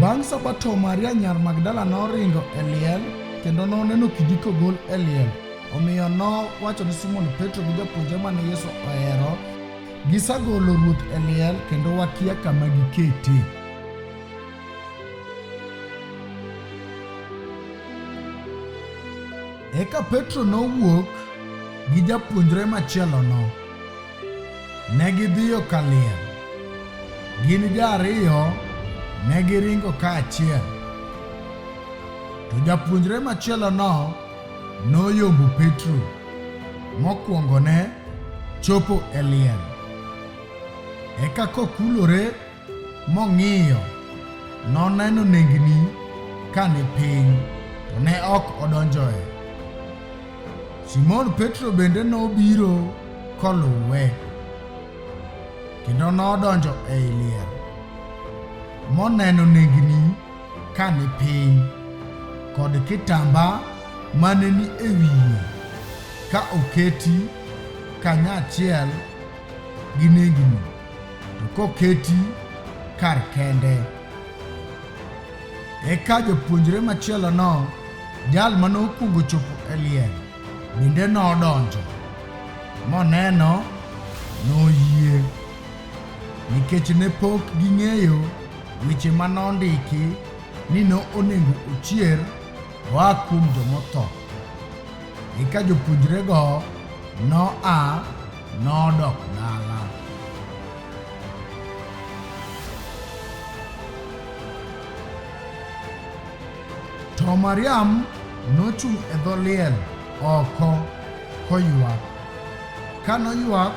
Bang' Sabato, Maria nyar Magdala noringo e liel kendo noneno kidi kogol e liel. Omiyo nowacho ni Simon Petro gi japuonjre mane Yesu ohero, Gisagolo Ruoth e liel kendo wakia kama gikete. Eka Petro nowuok gi japuonjre machielono. Ne gidhiyo Kaliel. Gin ji ariyo ne giringo kaachiel, to japuonjre machielono noyombo Petro mokwongone chopo e liel. Eka kokulore Mong'iyo, noneno nengni ka ni piny, to ne ok odonjoe. Simon Petro bende nobiro koluwe, kendo nodonjo ei liel, moneno nengni ka ni piny, kod kitamba mane ni e wiye ka oketi kanyachiel gi nengni. to koketi kar kende. Eka japuonjre machielono, jal ma nokwongo chopo e liel, bende nodonjo, moneno, noyie. Nikech ne pok ging'eyo weche ma nondiki ni ne onego ochier oa kuom jomotho. Eka jopuonjrego noa Nodok dala. To Mariam nochung' e dho liel oko koywak. Ka noywak,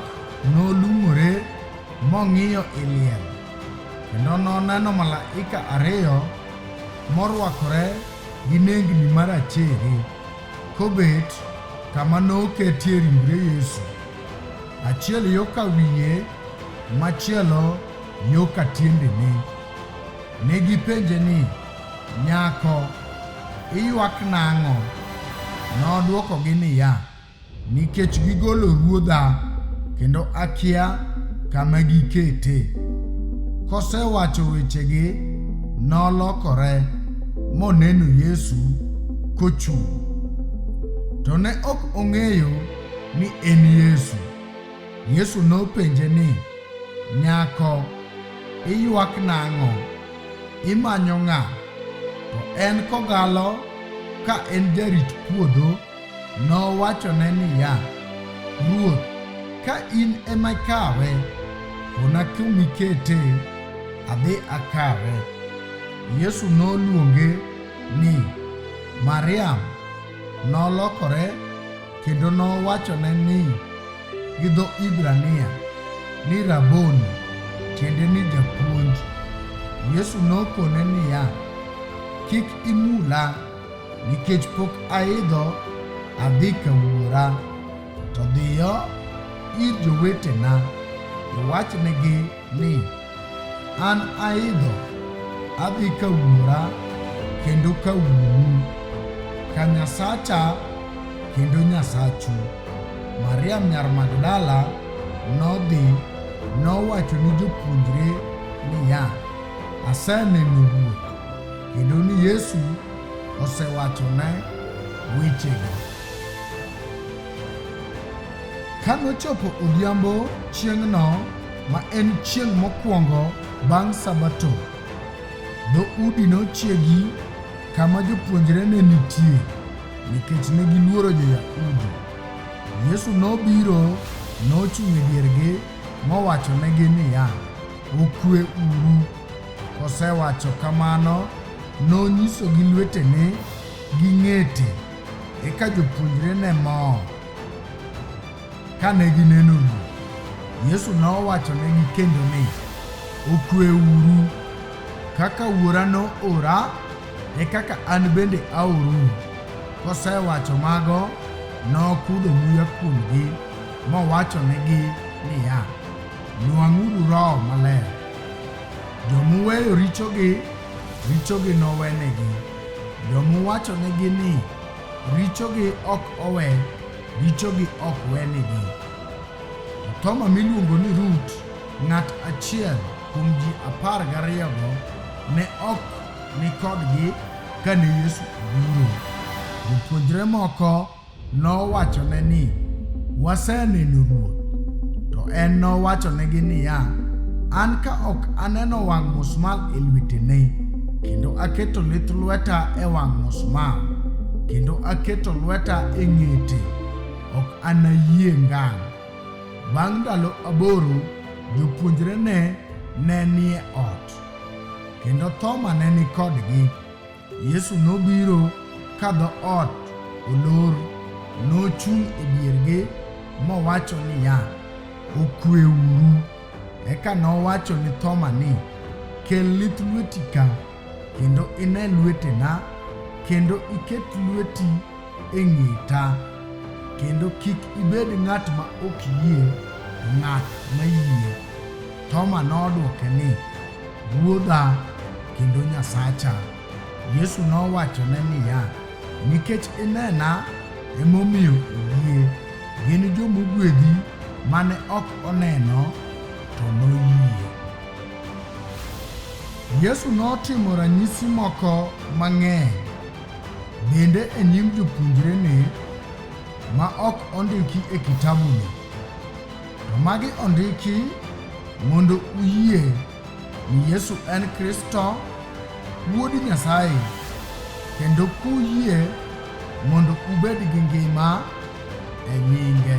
nolung'ore mong'iyo i liel, kendo noneno malaika ariyo morwakore gi nengni marachere Kobet kama noketie ringre Yesu, achiel yo ka wiye, machielo yo ka tiendene. Ne gipenje ni, Nyako, iywak nang'o? Nodwokogi niya, Nikech gigolo ruodha kendo akia kama gikete. Kosewacho wechegi, nolokore moneno Yesu kochung'. To ne ok ong'eyo ni en Yesu. Yesu nopenje ni, Nyako, iywak nang'o? Imanyo ng'a? To en kogalo ka en jarit puodho Nowachone niya, Ruoth, ka in ema ikawe, kona kuma ikete, adhi akawe. Yesu noluonge ni Mariam. Nolokore kendo nowachone ni gi dho Hibrania ni Raboni, tiende ni japuonj. Yesu nokone niya, Kik imula Nikech pok aidho adhi ka wuora, to dhiyo ir jowetena iwachnegi ni, 'An aidho adhi ka wuora kendo ka wuonu, ka Nyasacha kendo Nyasachu. Mariam nyar Magdala nodhi nowacho ni jopuonjre niya, Aseneno Ruoth! Kendo ni Yesu osewachone wechego. Ka nochopo odhiambo chieng'no ma en chieng' mokwongo bang' Sabato, dhoudi nochiegi kama jopuonjre ne nitie nikech ne giluoro Jo-Yahudi. Yesu nobiro nochung' e diergi mowachonegi niya, Okue uru! Kosewacho kamano, nonyiso gi lwetene gi ng'ete, eka jopuonjre ne mor kane gineno Ruoth. Yesu nowachonegi kendo ni, Okweuru, kaka Wuora noora, e kaka an bende aorou. Kosewacho mago, nokudho muya kuomgi, mowachonegi niya, Nwang'uru Roho Maler. Jomuweyo richogi, richogi nowenegi. Jomuwachonegi ni richogi ok owe, richogi ok wenegi. Thoma miluongo ni Rut, ng'at achiel kuom ji apar gariyogo, ne ok ni kodgi kane Yesu obiro. Jopuonjre moko Nowachone ni, Waseneno Ruoth. To en nowachonegi niya, An ka ok aneno wang' musmal e lwetene, kendo aketo lith lweta e wang' musmal, kendo aketo lweta e ng'ete, ok anayie ngang'. Bang' ndalo aboro, jopuonjrene ne nie ot, kendo Thoma ne ni kodgi. Yesu nobiro ka dho ot olor, nochung' e diergi mowacho niya, Okweuru. Eka nowacho ni Thoma ni, Kel lith lweti ka, kendo ine lwetena, kendo iket lweti e ng'eta, kendo kik ibed ng'at ma ok yie, ng'at ma yie. Thoma nodwoke ni, Ruodha kendo Nyasacha. Yesu nowachone niya, Nikech inena emomiyo oyie. Gin jomogwedhi mane ok oneno to noyie. Yesu notimo ranyisi moko mang'eny bende e nyim jopuonjrene ma ok ondiki e kitabuni. To magi ondiki mondo uyie ni Yesu en Kristo, Wuod Nyasaye, kendo kuyie mondo ubed gi ngima e nyinge.